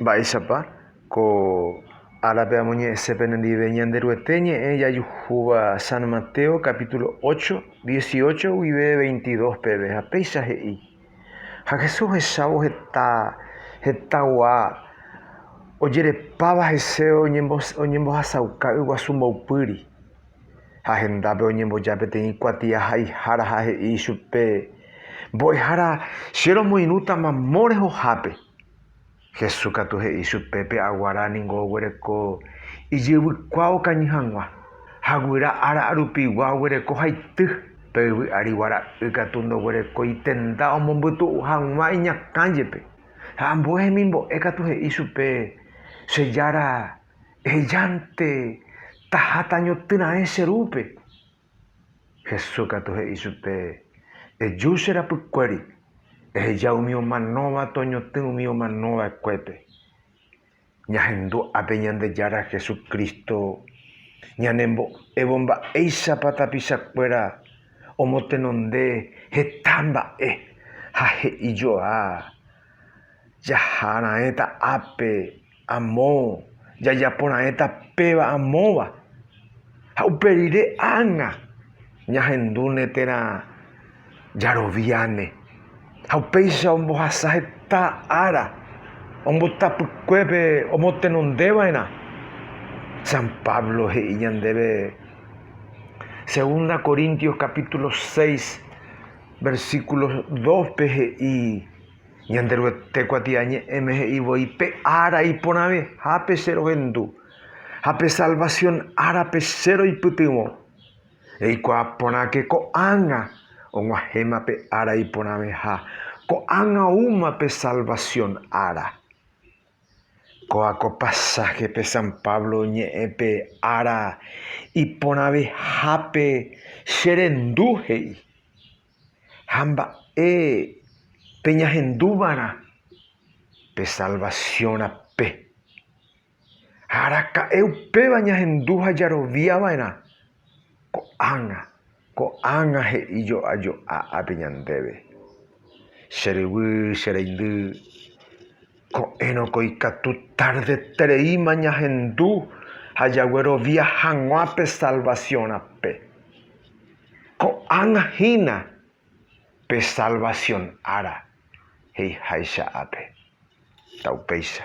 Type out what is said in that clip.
Mba'éichapa ko árape amoñe'ẽse penendive Ñanderuete ñe'ẽ jajuhúva San Mateo capítulo ocho, dieciocho guive veintidós peve, ha péicha he'i, Ha Jesús ohechávo heta hetãgua ojerepáva hese oñembohasauka yguasu mboypýri. ha hendápe oñemboja peteĩ kuatiaháihára ha he'i ichupe, Mbo'ehára, che romoirũta mamo rehohápe. Jesús katu he'i ichupe, Pe aguara ningo oguereko ijyvykua okañy hag̃ua, ha guyra ára arupigua oguereko haity, pe yvy ári guara'y katu ndoguereko itenda omombytu'u hag̃ua iñakã jepe. Ha ambue hemimbo'e katu he'i ichupe, Che Jára, Ehejánte taha tañotỹ raẽ che rúpe. Jesús katu he'i chupe, Eju che rapykuéri, eheja umi omanóva toñotỹ umi omano va'ekuépe. Ñahendu ápe Ñandejára Jesucristo ñanembo'évo mba'éichapa tapicha kuéra omotenonde heta mba'e ha he'i joa jaha raẽta ápe. Amo jajapo raẽta péva amóva, ha upe rire ág̃a ñahendúne térã jaroviáne. Ha upéicha ombohasa heta ára ombotapykuépe omotenonde va'erã. San Pablo he'i ñandéve Segunda Corintios capítulo seis, versículo dóspe he'i, Ñanderuete kuatiañe'ẽme he'i voi, Pe ára iporãvehápe che rohendu, ha pe salvasión árape che roipytyvõ. Eikuaa porãke ko'ág̃a og̃uahẽma pe ára iporãveha, ko'ág̃a oúma pe salvasión ára. Kóva ko pasáhepe San Pablo oñe'ẽ pe ára iporãvehápe che rendu he'i. ha mba'e peñahendúvarã pe salvasiõ rape. Ha araka'e upéva ñahendu ha jarovia va'erã ko'ág̃a, ko'ág̃a he'i jo'ajo'a ápe ñandéve. Che ryvy, che reindy, Ko'ẽrõko ikatu tardetereíma ñahendu ha jaguerovia hag̃ua pe salvasiõ rape. Ko'ág̃a hína pe salvasion ára, he'iháicha ápe. Upéicha.